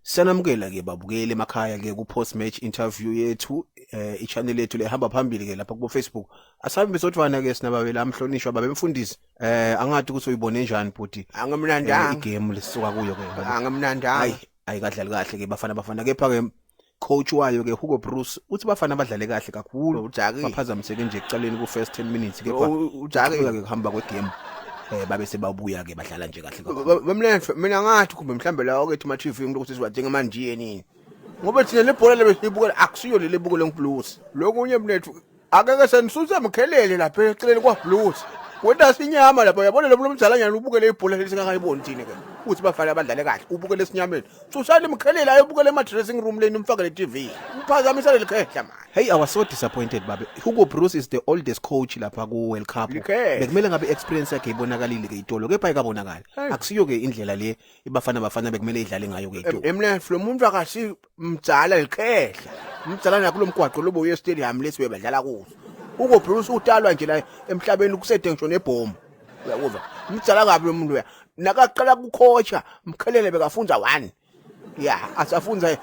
Sanamukela ke babukeli emakhaya ke ku post match interview yethu eh ichannel yethu lehamba phambili ke lapha ku Facebook asabe besodvana ke sinababela amhlonishwa babemfundisi eh angathi ukuthi uyibone njani bhuti eh, angamnandanga igame lisuka kuyo ke angamnandanga hayi ayikadlali kahle ke bafana bafana kepha ke coach wayo ke Hugo Bruce uthi bafana badlale kahle kakhulu baphazamiseke nje ekuqaleni ku first 10 minutes kepha ujake ke kuhamba kwe game eh babe sebabuya ke badlala nje kahle kakhulu Bamlenhle mina ngathi kumbe mhlambe la okethi ma TV umuntu ukuthi siwadinga manje yini ngoba thina lebhola lebe sibukela akusiyo leli bukele ngiblues lokunye mnethu akeke senisusa mkhelele lapha eceleni kwa blues wenda sinyama lapha yabona lo mntu omdala nyana ubukele ibhola lesingakayiboni thina ke uthi bafana abadlale kahle ubukele esinyameni Cushani mkhelele ayobukela ema dressing room leni umfakele TV. Uphazamisa lelikhehla manje. Hey, I was so disappointed babe. Hugo Broos is the oldest coach lapha ku World Cup. Likhe. Bekumele ngabe experience yakhe ibonakalile ke itolo, kepha ikabonakala. Hey. Akusiyo ke indlela le ibafana bafana bekumele idlale ngayo ke itolo. Emnef lo muntu akasi mdzala likhehla. Mdzala nakulo mgwaqo lobo uye stadium lesi bebadlala kuso. Uko Bruce utalwa nje la emhlabeni kusede ngisho nebhomu. uyakuzwa mdala kabi lo muntu uya nakaqala kukhosha mkhelele bekafunza one ya asafunza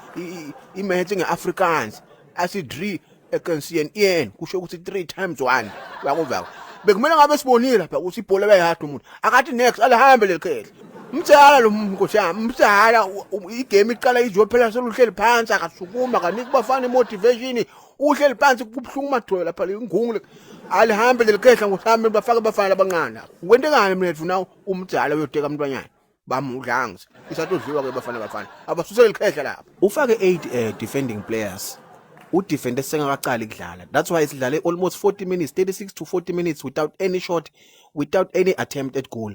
imaths nge-afrikaans asidri ekensiyen iyen kusho ukuthi three times one uyakuzwa bekumele ngabe sibonile lapha ukuthi ibhola bayahada umuntu akathi next alihambe leli khehla mdala lo nkosi yami mdala igame iqala izophela seluhleli phansi akasukuma kanike bafana imotivation uhleli phansi kubuhlungu umadhoyo lapha lingungule alihambe lelikhehla ngohambe bafake abafana labancane wente ngani mina ndifuna umdala uyoteka umntwanyana bamudlangs isatodliwa ke bafana bafana abasuse lelikhehla lapha ufake 8 uh, eh, defending players udefende sengakaqali kudlala that's why sidlale almost 40 minutes 36 to 40 minutes without any shot without any attempt at goal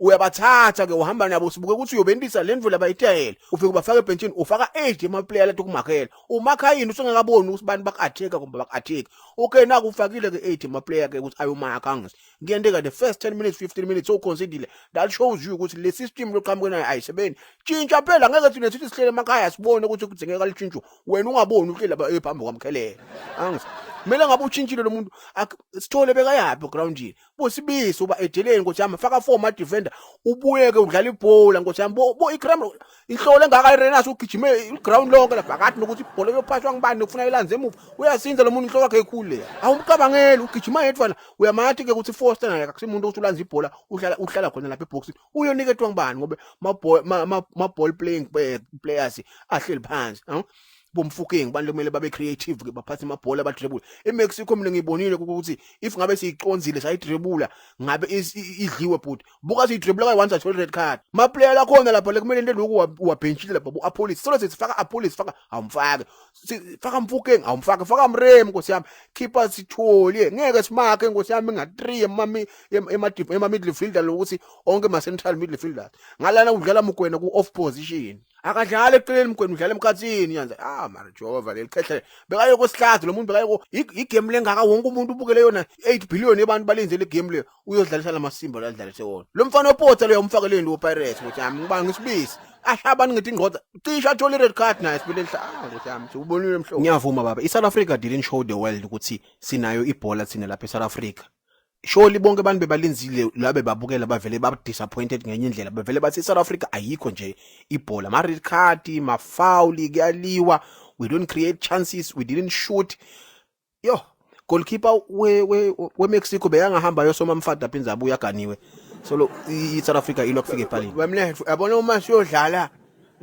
uyabathatha ke uhamba nabo sibuke ukuthi uyobentisa le ndlela bayitayela ufike ubafaka ebhentshini ufaka age emaplayer lathi ukumakhela umakha yini usengakaboni ukuthi abantu bakatheka kumbe bakatheki okay naku ufakile ke age emaplayer ke ukuthi ayomakha angis ngiyende ka the first 10 minutes 15 minutes so consider that shows you ukuthi le system loqhamuke nayo ayisebenzi tshintsha phela ngeke thina sithi sihlele emakhaya sibone ukuthi kudzingeka litshintsho wena ungaboni uhlele ebhambi kwamkhelela angis kumele ngabe utshintshile lo muntu sithole bekayaphi groundini busibisi uba edeleni nkosi yami faka four ma defender ubuyeke udlala ibhola nkosi yami bo, bo ikram inhlolo engaka irenas ugijime iground lonke la phakathi nokuthi ibhola yophashwa ngibani nokufuna ilanze emuva uyasinza lo muntu inhloko yakhe ekhulu le awumcabangeli ugijima yedwa la uyamathi ke ukuthi foster naye akusimuntu ukuthi ulanza ibhola uhlala uhlala khona lapha eboxing uyoniketwa ngibani ngoba ma ball ma, ma, ma ball playing players ahleli phansi bomfukeng abantu kumele babe creative ke baphathe amabhola abadrebula eMexico mina ngibonile ukuthi if ngabe siyiconzile sayidrebula ngabe idliwe bhuti buka siyidrebula kayi once athole red card ma player lakhona lapha lekumele into lokhu wabhenchile lapha bu apolice solo sifaka apolice faka awumfake faka mfukeng awumfake faka mrem nkosi yami keeper sithole ngeke simake nkosi yami nga 3 emami ema midfielder lokuthi onke ma central midfielders ngalana udlala mugwena ku off position akadlali eceleni mgwenu udlala emkhathini yanze ah mara jehova leli qehle bekaye kwesihlazo lo muntu bekaye ko igame lengaka wonke umuntu ubukele yona 8 billion abantu balenze le game le uyodlalisa lamasimba la dlalise wona lo mfana opotsa lo yamfakeleni lo pirates ukuthi yami ngiba ngisibisi ahlabani ngithi ingoda cisha athola i-red card naye sibele lihlanga ukuthi yami siwubonile mhlobo ngiyavuma baba i-south africa didn't show the world ukuthi sinayo ibhola thina lapha e-south africa Surely bonke abantu bebalinzile la bebabukela bavele ba disappointed ngenye indlela bevele bathi South Africa ayikho nje ibhola ma red card ma foul kuyaliwa we don't create chances we didn't shoot yo goalkeeper we we, we Mexico beyangahamba yosoma mfada phinza abuya ganiwe so lo i South Africa ilo kufika epalini bamle yabona uma siyodlala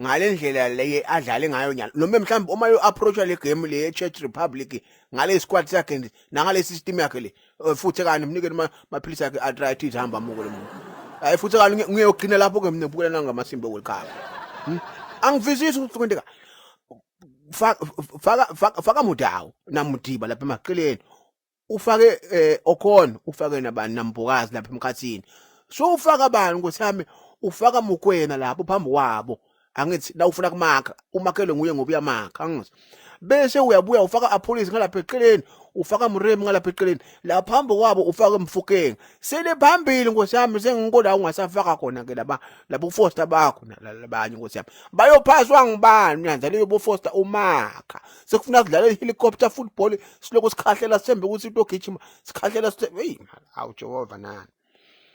ngalendlela leye adlale ngayo nyalo noma mhlawumbe uma yo approacha le game le Czech Republic ngale squad sakhe nangale system yakhe le Eh, futhi kani mnikeni maphilisi akhe arthritis hamba muko lomuntu hayi futhi kani ngiyogcina lapho ke mina bukela nangamasimba welikhaya hmm? angivisisi ukuthi kwenteka faka faka faka mudawo namudiba lapha emaqeleni ufake eh, okhona ufake nabani nambokazi lapha emkhathini so ufaka bani ukuthi hame ufaka mukwena lapho phambi kwabo angithi la ufuna kumakha umakhele nguye ngoba uyamakha angithi bese uyabuya ufaka apolice ngalapha eceleni ufaka mrem ngalapha eceleni la phambi kwabo ufaka emfukeni sele phambili nkosi yami sengikola ungasafaka khona ke laba labo foster bakho labanye nkosi yami bayophaswa ngibani nyanza leyo bo foster umakha sekufuna kudlala ihelicopter football siloko sikhahlela sembe ukuthi into gijima sikhahlela hey awu Jehova nani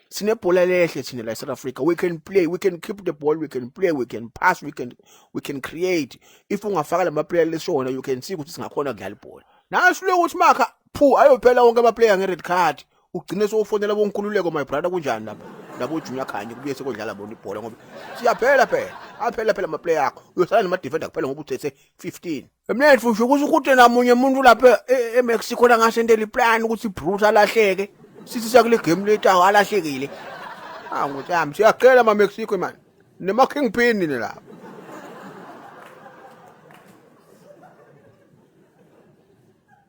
sinebhola lehle thina la eSouth Africa we can play we can keep the ball we can play we can pass we can we can create if ungafaka lama player lesona you can see ukuthi singakhona kudlala ibhola naso lokuthi makha phu ayophela wonke ama player nge red card ugcine sofonela bonkululeko my brother kunjani lapha labo junior khanye kubuye sekodlala bona ibhola ngoba siyaphela phela aphela phela ama player akho uyosala nama defender kuphela ngoba uthethe 15 Emnene futhi ukuthi ukuthi namunye umuntu lapha e- eMexico la ngasendela iplan ukuthi Bruce alahleke. Sithi sakule game later alahlekile. Ah ngothi yami siyacela ma Mexico man. Nema Kingpin ni la.